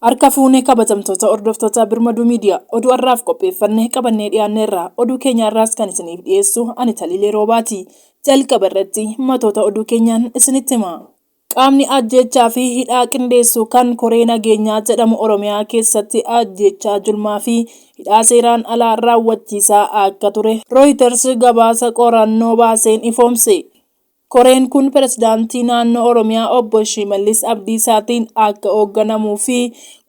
Harka fuunee kabajamtoota hordoftoota Birmaduu Miidiyaa oduu har'aaf qopheeffannee qabannee dhiyaanneerra. Oduu keenya har'aas kan isiniif dhiyeessu ani Taliilee Roobaati. Jalqaba irratti matoota oduu keenyaan isinitti hima. Qaamni ajjeechaa fi hidhaa qindeessu kan Koree Nageenyaa jedhamu Oromiyaa keessatti ajjeechaa julmaa fi hidhaa seeraan alaa raawwachiisaa akka ture Rooyiters gabaasa qorannoo baaseen ifoomse. Koreen kun Pirezidaantii Naannoo Oromiyaa Obbo Shimallis Abdiisaatiin akka hoogganamu fi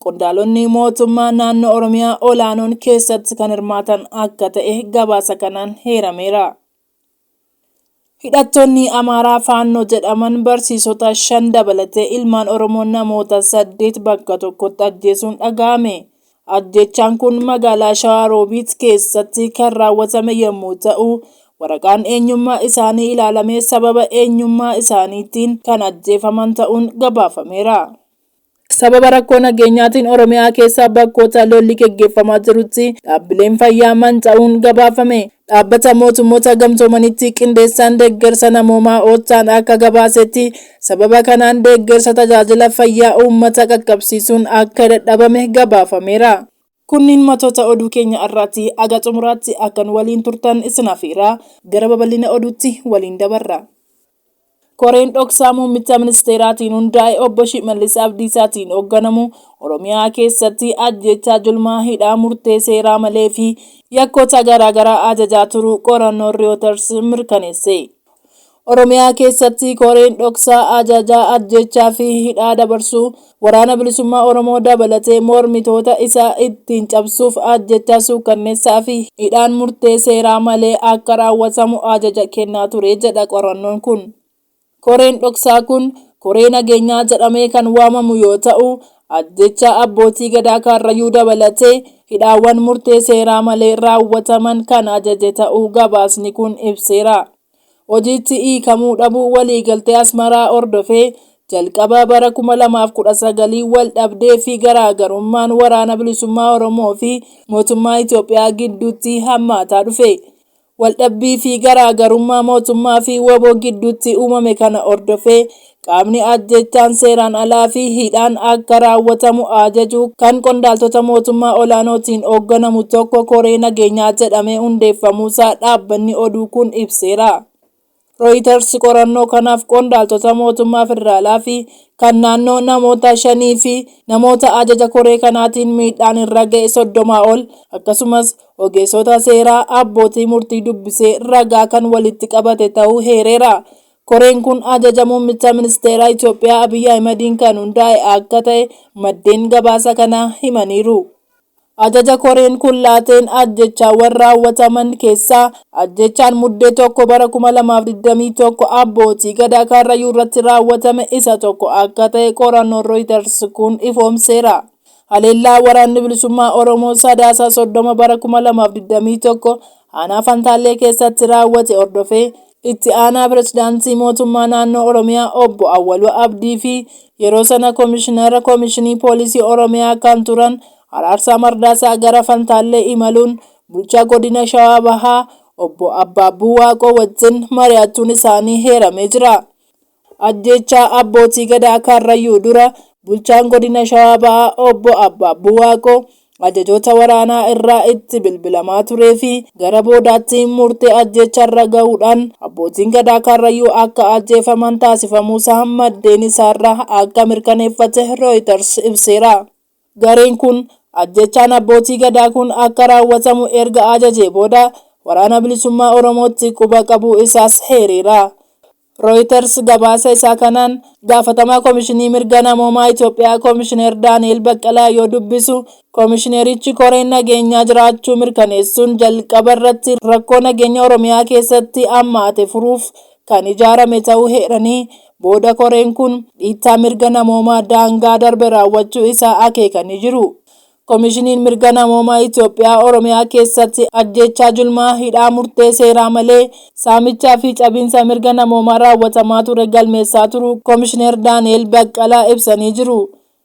qondaalonni mootummaa Naannoo Oromiyaa olaanoon keessatti kan hirmaatan akka ta'e gabaasa kanaan heerameera. Hidhattoonni Amaaraa Faannoo jedhaman barsiisota shan dabalatee ilmaan Oromoo namoota saddeet bakka tokkotti ajjeesuun dhaga'ame. Ajjeechaan kun magaalaa Shawaa Roobiit keessatti kan raawwatame yommuu ta'u, waraqaan eenyummaa isaanii ilaalamee sababa eenyummaa isaaniitiin kan ajjeefaman ta'uun gabaafameera. Sababa rakkoo nageenyaatiin Oromiyaa keessa bakkoota lolli geggeeffamaa jirutti dhaabbileen fayyaa manca'uun gabaafame. Dhaabbata Mootummoota Gamtoomanitti qindeessaan deeggarsa namoomaa Ochaan akka gabaasetti sababa kanaan deeggarsa tajaajila fayyaa uummata qaqqabsiisuun akka dadhabame gabaafameera. Kunniin matoota oduu keenya arraati. Haga xumuraatti akka nu waliin turtan isin afeeraa, gara babal'ina oduutti waliin dabarra. Koreen dhoksaa muummicha ministeeraatiin hundaa'e obbo Shimallis Abdiisaatiin hogganamu Oromiyaa keessatti ajjeechaa julmaa, hidhaa murtee seeraa malee fi yakkoota garaagaraa ajajaa turuu qorannoon Reuters mirkaneesse. Oromiyaa keessatti koreen dhoksaa ajajaa ajjeechaa fi hidhaa dabarsuu Waraana Bilisummaa Oromoo dabalatee mormitoota isaa ittiin cabsuuf ajjeechaa suukkanneessaa fi hidhaan murtee seeraa malee akka raawwatamu ajaja kennaa ture jedha qorannoon kun. Koreen dhoksaa kun koree nageenyaa jedhamee kan waamamu yoo ta'u, Ajjeechaa Abbootii Gadaa Kaarrayyuu dabalatee hidhaawwan murtee seeraa malee raawwataman kan ajaje ta'uu gabaasni kun ibseera. Hojiitti hiikamuu dhabuu waliigaltee Asmaraa hordofee jalqaba bara 2019 waldhabdee fi garaagarummaan Waraana Bilisummaa Oromoo fi mootummaa Itoophiyaa gidduutti hammaataa dhufe. Waldhabbii fi garaa garummaa mootummaa fi wbo gidduutti uumame kana hordofee qaamni ajjeechaan seeraan alaa fi hidhaan akka raawwatamu ajaju kan qondaaltota mootummaa olaanootiin hoogganamu tokko koree nageenyaa jedhamee hundeeffamuusaa dhaabbanni oduu kun ibseera. Rooyitars qorannoo kanaaf qondaaltota mootummaa federaalaa fi kan naannoo namoota shanii fi namoota ajaja koree kanaatiin miidhaan irra ga'e soddomaa ol akkasumas ogeessota seeraa abbootii murtii dubbisee ragaa kan walitti qabate ta'uu heereera. Koreen kun ajaja muummicha ministeeraa Itoophiyaa Abiy Ahimadiin kan hundaa'e akka ta'e maddeen gabaasa kanaa himaniiru. Ajaja koreen kun laateen ajjeechaawwan raawwataman keessaa ajjeechaan Muddee 1 bara 2021 Abbootii Gadaa Karrayyuu irratti raawwatame isa tokko akka ta'e qorannoon Reuters kun ifoomseera. Haleellaa Waraanni Bilisummaa Oromoo Sadaasa 30 bara 2021 aanaa Fantaallee keessatti raawwate hordofee Itti aanaa pirezidaantii mootummaa naannoo Oromiyaa obbo Awwaluu Abdii fi yeroo sana komishinara komishinii poolisii Oromiyaa kan turan Araarsaa Mardaasaa gara Fantaallee imaluun bulchaa godina Shawaa Bahaa obbo Abbaabbuu Waaqoo wajjin mari'achuun isaanii heeramee jira. Ajjeechaa Abbootii Gadaa Karrayyuu dura Bulchaan Godina Shawaa Bahaa Obbo Abbaabbuu Waaqoo ajajoota waraanaa irraa itti bilbilamaa turee fi gara boodaatti murtee ajjeechaa irra gahuudhaan Abbootiin Gadaa Karrayyuu akka ajjeefaman taasifamuusaa maddeen isaarraa akka mirkaneeffate Rooyitars ibseera. Gareen kun ajjeechaan abbootii Gadaa kun akka raawwatamu erga ajajee booda Waraana Bilisummaa Oromootti quba qabuu isaas heereera. Rooyiters gabaasa isaa kanaan gaafatamaa Komishinii Mirga Namoomaa Itoophiyaa Komishineer Daani'eel Baqqalaa yoo dubbisu, Komishineerichi koreen nageenyaa jiraachuu mirkaneessuun jalqaba irratti rakkoo nageenya Oromiyaa keessatti hammaate furuuf kan ijaarame ta'uu heeranii, booda koreen kun dhiittaa mirga namoomaa daangaa darbe raawwachuu isaa akeekanii jiru. Komishiniin Mirga Namoomaa Itoophiyaa Oromiyaa keessatti ajjeechaa julmaa, hidhaa murtee seeraa malee, saamichaa fi cabiinsa mirga namoomaa raawwatamaa ture galmeessaa turuu Komishineer Daani'eel Baqqalaa ibsanii jiru.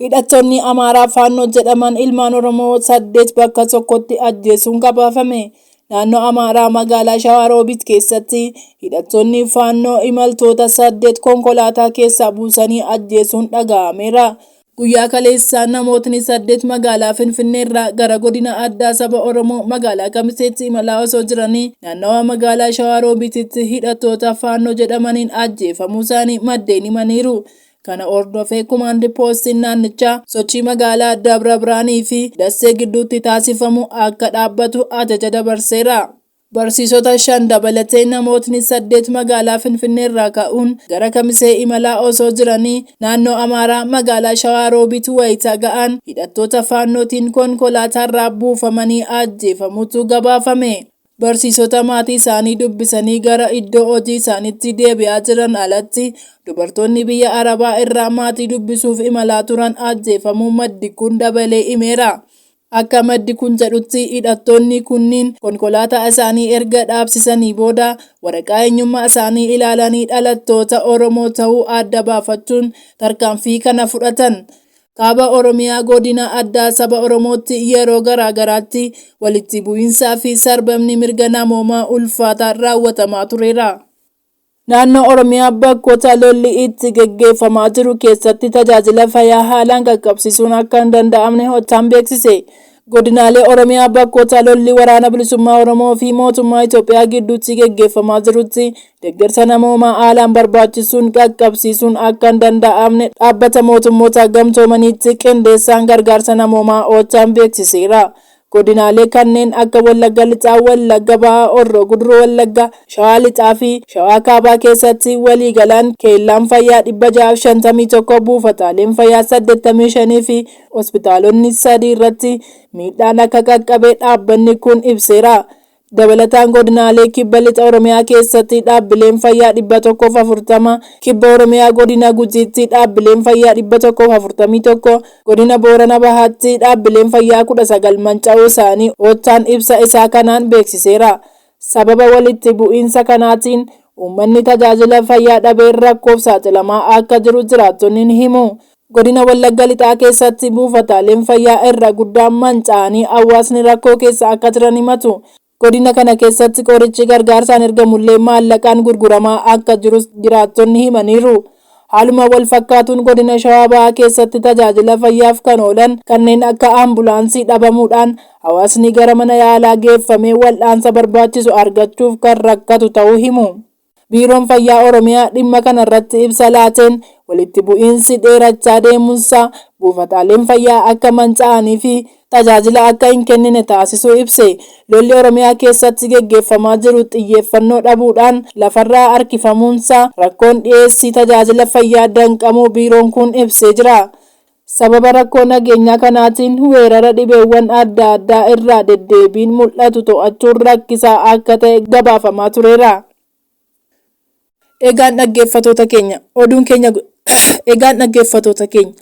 Hidhattoonni Amaaraa Faannoo jedhaman ilmaan Oromoo saddeet bakka tokkotti ajjeesuun gabaafame. Naannoo Amaaraa magaalaa Shawaa Roobit keessatti hidhattoonni Faannoo imaltoota saddeet konkolaataa keessaa buusanii ajjeesuun dhaga'ameera. Guyyaa kaleessaa namootni saddeet magaalaa Finfinneerraa gara godina addaa saba Oromoo magaalaa Kamiseetti imalaa osoo jiranii naannawaa magaalaa Shawaa Roobititti hidhattoota Faannoo jedhamaniin ajjeefamuusaanii maddeen himaniiru. Kana hordofee Kumaandi Poostiin naannichaa sochii magaalaa Dabra Birhaanii fi Dassee gidduutti taasifamu akka dhaabbatu ajaja dabarseera. Barsiisota shan dabalatee namootni saddeet magaalaa Finfinneerraa ka'uun gara Kamisee imalaa osoo jiranii naannoo Amaaraa magaalaa Shawaa Roobiit wayita ga'an hidhattoota Faannootiin konkolaataarraa buufamanii ajjeefamuutu gabaafame. Barsiisota maatii isaanii dubbisanii gara iddoo hojii isaaniitti deebi'aa jiran alatti dubartoonni biyya Arabaa irraa maatii dubbisuuf imalaa turan ajjeefamuu maddi kun dabalee himeera. Akka maddi kun jedhutti hidhattoonni kunniin konkolaataa isaanii erga dhaabsisanii booda waraqaa eenyummaa isaanii ilaalanii dhalattoota Oromoo ta'uu adda baafachuun tarkaanfii kana fudhatan. Kaaba Oromiyaa godina addaa saba Oromootti yeroo garaa garaatti walitti bu'iinsaa fi sarbamni mirga namoomaa ulfaataa raawwatamaa tureera. Naannoo Oromiyaa bakkoota lolli itti geggeeffamaa jiru keessatti tajaajila fayyaa haalaan qaqqabsiisuun akka hin danda'amne Hottaan beeksise. Godinaalee Oromiyaa bakkoota lolli Waraana Bilisummaa Oromoo fi mootummaa Itoophiyaa gidduutti geggeeffamaa jirutti deeggarsa namoomaa haalaan barbaachisuun qaqqabsiisuun akka hin danda'amne Dhaabbata Mootummoota Gamtoomaniitti qindeessaan gargaarsa namoomaa Oochaan beeksiseera. Godinaalee kanneen akka Wallagga Lixaa, Wallagga Bahaa, Horroo Guduruu Wallaggaa, Shawaa Lixaa fi Shawaa Kaabaa keessatti waliigalaan keellaan fayyaa 651, buufataaleen fayyaa 85 fi hospitaalonni sadii irratti miidhaan akka qaqqabe dhaabbanni kun ibseera. Dabalataan godinaalee kibba lixa Oromiyaa keessatti dhaabbileen fayyaa 140, kibba Oromiyaa godina Gujiitti dhaabbileen fayyaa 141, godina Boorana Bahaatti dhaabbileen fayyaa 19 manca'uu isaanii Oochaan ibsa isaa kanaan beeksiseera. Sababa walitti bu'iinsa kanaatiin uummanni tajaajila fayyaa dhabee rakkoof saaxilamaa akka jiru jiraattonni ni himu. Godina Wallagga Lixaa keessatti buufataaleen fayyaa irra guddaan manca'anii hawaasni rakkoo keessa akka jiran himatu. Godina kana keessatti qorichi gargaarsaan ergamullee maallaqaan gurguramaa akka jirus jiraattonni himaniiru. Haaluma walfakkaatuun Godina Shawaa Bahaa keessatti tajaajila fayyaaf kan oolan kanneen akka ambulaansii dhabamuudhaan hawaasni gara mana yaalaa geeffamee wal'aansa barbaachisu argachuuf kan rakkatu ta'uu himu. Biiroon Fayyaa Oromiyaa dhimma kanarratti ibsa laateen, walitti bu'iinsi dheerachaa deemuunsaa buufataaleen fayyaa akka manca'aniifi tajaajila akka hin kennine taasisuu ibse. Lolli Oromiyaa keessatti geggeeffamaa jiru xiyyeeffannoo dhabuudhaan lafarraa harkifamuunsaa rakkoon dhiyeessii tajaajila fayyaa danqamuu biiroon kun ibsee jira. Sababa rakkoo nageenyaa kanaatiin weerara dhibeewwan adda addaa irraa deddeebiin mul'atu to'achuun rakkisaa akka ta'e gabaafamaa tureera. Egaan dhaggeeffatoota keenya oduun keenya Egaan dhaggeeffatoota keenya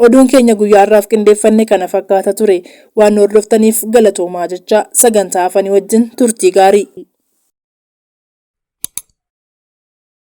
oduun keenya guyyaa har'aaf qindeeffanne kana fakkaata ture. Waan nu hordoftaniif galatoomaa jechaa sagantaa hafanii wajjin turtii gaarii.